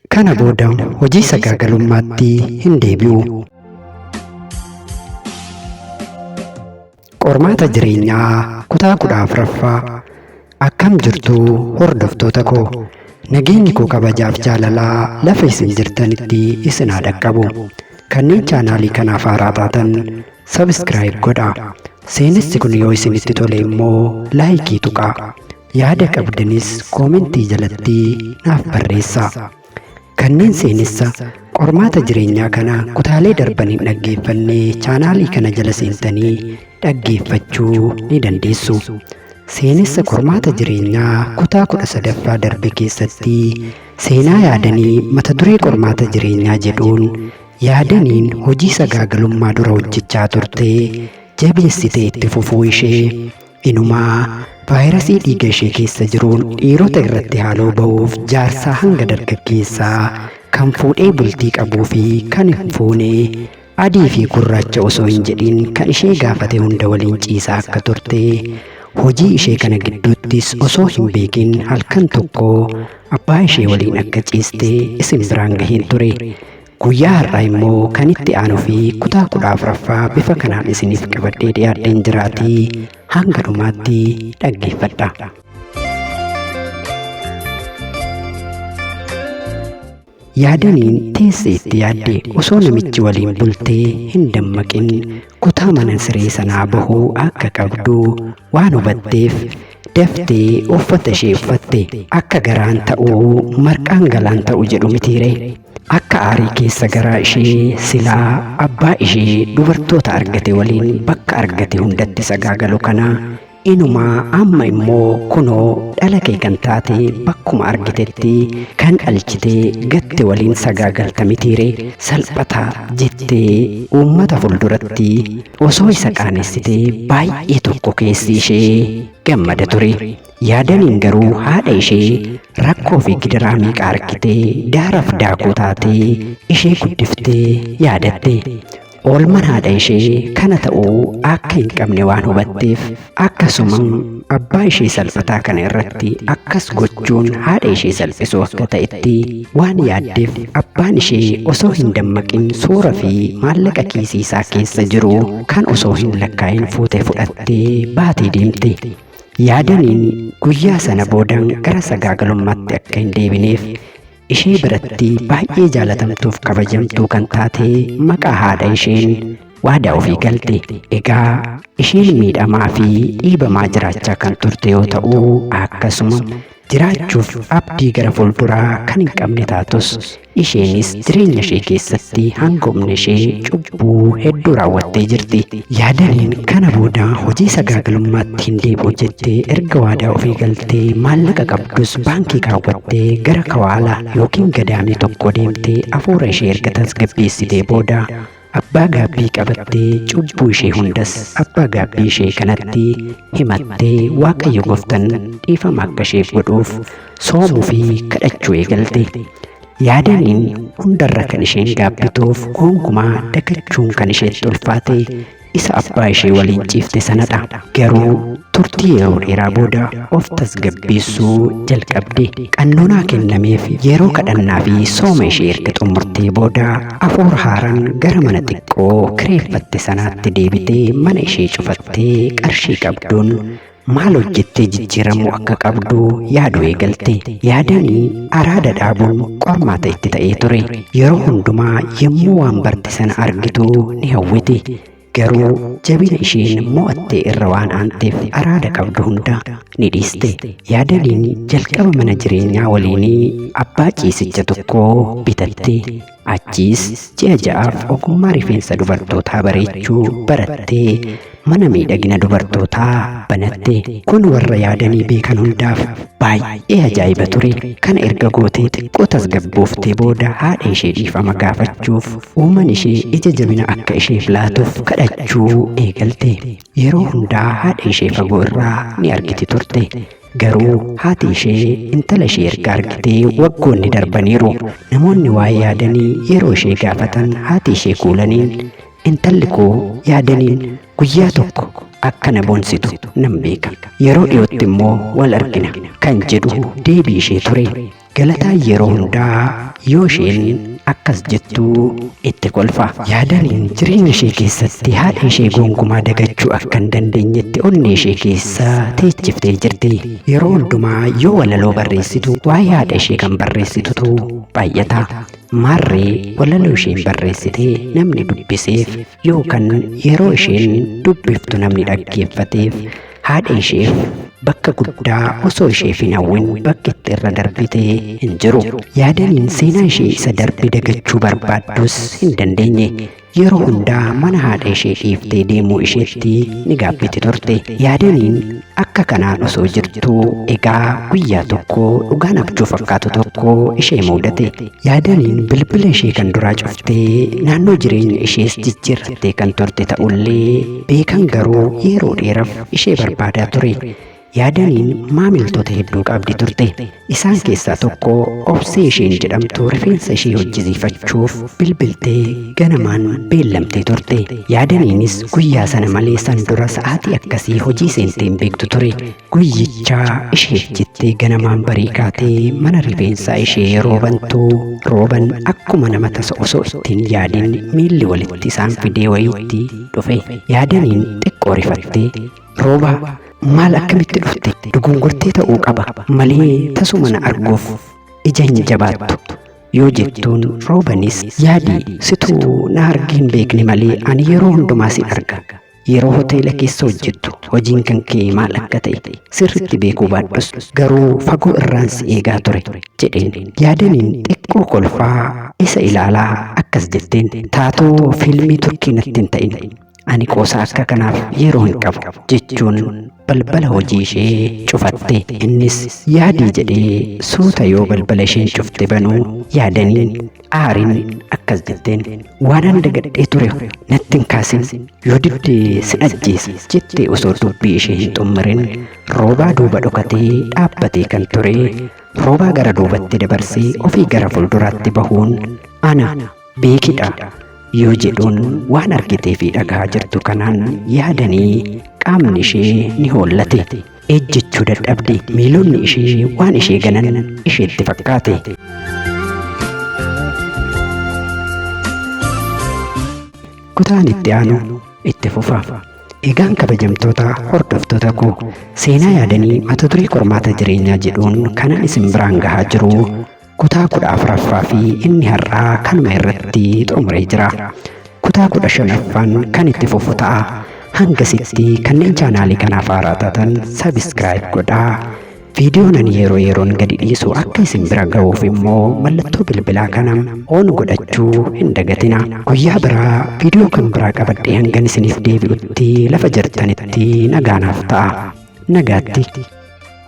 Kana booda hojii sagaagalummaatti hin deebi'u. Qormaata jireenyaa kutaa kudha afraffaa akkam jirtu hordoftoota koo nageenyi koo kabajaaf jaalalaa lafa isin jirtanitti isin haa dhaqqabu kanneen chaanaalii kanaaf haaraa taatan sabiskiraayib godha seenessi kun yoo isinitti tole immoo laayikii tuqaa Yaada qabdanis koomentii jalatti naaf barreessaa. Kanneen seenessa qormaata jireenyaa kana kutaalee darban hin dhaggeeffanne chaanaalii kana jala seentanii dhaggeeffachuu ni dandeessu. Seenessa qormaata jireenyaa kutaa kudha sadaffaa darbe keessatti seenaa yaadanii mata duree qormaata jireenyaa jedhuun yaadaniin hojii sagaagalummaa dura hojjechaa turte jabeessitee itti fufuu ishee Inumaa vaayirasii dhiiga ishee keessa jiruun dhiirota irratti haaloo ba'uuf jaarsaa hanga dargaggeessaa kan fuudhee bultii qabuu fi kan hin fuune adii fi gurraacha osoo hin jedhin kan ishee gaafate hunda waliin ciisaa akka turte hojii ishee kana gidduuttis osoo hin beekin halkan tokko abbaa ishee waliin akka ciiste isin biraan gaheen ture. Guyyaa har'aa immoo kan itti aanuu fi kutaa kudha afraffaa bifa kanaan isiniif qabadhee dhiyaadheen jiraatii hanga dhumaatti dhaggeeffadha. Yaadaniin teessee itti yaadde osoo namichi waliin bultee hin dammaqin kutaa mana siree sanaa bahuu akka qabdu waan hubatteef daftee uffata ishee uffatte akka garaan ta'uu marqaan galaan ta'u jedhu mitiire. Akka aarii keessa garaa ishee silaa abbaa ishee dubartoota argate waliin bakka argate hundatti sagaagalu kana inumaa amma immoo kunoo dhala kee kan taate bakkuma argitetti kan dhalchite gatte waliin sagaagalta mitiire salphata jettee uummata fulduratti osoo isa qaanessite baay'ee tokko keessi ishee gammada ture. Yaadaniin garuu haadha ishee rakkoo fi gidiraa meeqa argitee daaraaf daakuu taatee ishee guddiftee yaadatte. Oolmaan haadha ishee kana ta'uu akka hin qabne waan hubatteef akkasuma abbaa ishee salphataa kana irratti akkas gochuun haadha ishee salphisuu akka ta'etti waan yaaddeef abbaan ishee osoo hin dammaqin suura fi maallaqa kiisii isaa keessa jiru kan osoo hin lakkaa'in fuutee fudhattee baatee deemte. Yaadaniin guyyaa sana booda gara sagaagalummaatti akka hin deebineef ishee biratti baay'ee jaalatamtuuf kabajamtuu kan taate maqaa haadha isheen waadaa ofii galte. Egaa isheen miidhamaa fi dhiibamaa jiraachaa kan turte yoo ta'u akkasuma jiraachuuf abdii gara fuulduraa kan hin qabne taatus Isheenis jireenya ishee keessatti hanga humna ishee cubbuu hedduu raawwattee jirti. Yaadaniin kana booda hojii sagaagalummaatti hin deebi'u jettee erga waadaa ofii galtee maallaqa qabdus baankii kaawwattee gara kawaala yookiin gadaamii tokkoo deemtee afuura ishee erga tasgabbeessitee booda Abbaa gaabbii qabattee cubbuu ishee hundas abbaa gaabbii ishee kanatti himattee Waaqayyo Gooftan dhiifama akka isheef godhuuf soomuu fi kadhachuu eegalte. Yaadaniin hundarra kan isheen gaabbituuf gonkumaa dagachuun kan isheetti ulfaate isa abbaa ishee waliin ciifte sanadha. Garuu turtii yeroo dheeraa booda of tasgabbeessuu jalqabde. Qannoonaa kennameef yeroo kadhannaa fi sooma ishee erga xumurtee booda Afuura haaraan gara mana xiqqoo kireeffatte sanaatti deebitee mana ishee cufattee qarshii qabduun maal hojjettee jijjiiramuu akka qabdu yaaduu eegalte. Yaadanii araada dhaabuun qormaata itti ta'ee ture. Yeroo hundumaa yommuu waan barte sana argitu ni hawwiti. Garuu jabina isheen mo'attee irra waan aanteef araada qabdu hunda ni dhiiste. Yaadaliin jalqaba mana jireenyaa waliinii abbaa ciisicha tokkoo bitatte. Achiis ji'a ja'aaf ogummaa rifeensa dubartootaa bareechuu barattee mana miidhagina dubartootaa banatte. Kun warra yaadanii beekan hundaaf baay'ee ajaa'iba ture. Kana erga gootee xiqqoo tasgabbooftee booda haadha ishee dhiifama gaafachuuf Uuman ishee ija jabina akka isheef laatuuf kadhachuu eegalte. Yeroo hundaa haadha ishee fagoo irraa ni argiti turte. Garuu haati ishee intala ishee erga argitee waggoonni darbaniiru. Namoonni waa yaadanii yeroo ishee gaafatan haati ishee kuulaniin intalli koo yaadaniin guyyaa tokko akka na boonsitu nan beeka. Yeroo dhiyootti immoo wal argina kan jedhu deebii ishee ture. Galataa yeroo hundaa yoo isheen akkas jettu itti kolfa. Yaadaniin jireenya ishee keessatti haadha ishee gonkumaa dagachuu akka hin dandeenyetti onnee ishee keessa teechiftee jirti. Yeroo hundumaa yoo walaloo barreessitu waa'ee haadha ishee kan barreessitutu baay'ata. Maarree walaloo isheen barreessite namni dubbiseef yookan yeroo isheen dubbiftu namni dhaggeeffateef haadha isheef bakka guddaa osoo isheef hin hawwin bakki itti irra darbite hin jiru. Yaadaniin seenaa ishee isa darbe dagachuu barbaaddus hin dandeenye. Yeroo hundaa mana haadha ishee dhiiftee deemuu isheetti ni gaabbiti turte. Yaadaniin akka kanaan osoo jirtu egaa guyyaa tokko dhugaan abjuu fakkaatu tokko ishee muudate. Yaadaniin bilbila ishee kan duraa cuftee naannoo jireenya ishees jijjiirrattee kan turte ta'ullee beekan garuu yeroo dheeraf ishee barbaadaa ture. Yaadaniin maamiltoota hedduu qabdi turte. Isaan keessaa tokko obsee isheen jedhamtu rifeensa ishee hojjisiifachuuf bilbiltee ganamaan beellamtee turte. Yaadaniinis guyyaa sana malee san dura sa'aatii akkasii hojii seentee hin beektu ture. Guyyichaa isheef jettee ganamaan barii kaatee mana rifeensaa ishee yeroo bantu rooban akkuma nama tasa osoo ittiin yaadin miilli walitti isaan fidee wayiitti dhufe yaadaniin xiqqoo rifattee roobaa maal akkamitti dhufte dugungortee ta'uu qaba malee tasuma na arguuf ija hin jabaattu yoo jettuun roobanis yaadii situu na argee hin beekne malee ani yeroo hundumaa sin arga Yeroo hoteela keessa hojjettu hojiin kan kee maal akka ta'e sirriitti beekuu baadhus garuu fagoo irraan si eegaa ture jedheen. Yaadaniin xiqqoo kolfaa isa ilaalaa akkas jetteen taatoo fiilmii turkii natti hin ta'in. Ani qoosaa akka kanaaf yeroo hin qabu jechuun balbala hojii ishee cufatte. Innis yaadii jedhee suuta yoo balbala isheen cufte banuu yaadaniin Aariin akkas jetteen waan ani dagadhee ture natti hin kaasin yoo didde sin ajjeesa jettee osoo dubbii ishee hin xummarin roobaa duuba dhokatee dhaabbatee kan ture roobaa gara duubatti dabarsee ofii gara fuulduraatti bahuun ana beekidha yoo jedhuun waan argitee fi dhagahaa jirtu kanaan yaadanii qaamni ishee ni hoollate. Ejjechuu dadhabde. Miilonni ishee waan ishee ganan isheetti fakkaate. Kutaan itti aanu itti fufa. Egaan kabajamtoota hordoftoota koo seenaa yaadanii mata duree qormaata jireenyaa jedhuun kanan isin biraan gahaa jiru Kutaa kudha afraffaa fi inni har'aa kanuma irratti xumuree jira. Kutaa kudha shanaffaan kan itti fufu ta'a. Hangasitti kanneen chaanaalii kanaaf haaraa taatan sabiskiraayib godhaa. Viidiyoon ani yeroo yeroon gadi dhiisu akka isin bira ga'uuf immoo mallattoo bilbilaa kana oon godhachuu hin dagatina. Guyyaa biraa viidiyoo kan biraa qabadhee hangan isiniif deebi'utti lafa jirtanitti nagaanaaf ta'a. Nagaatti.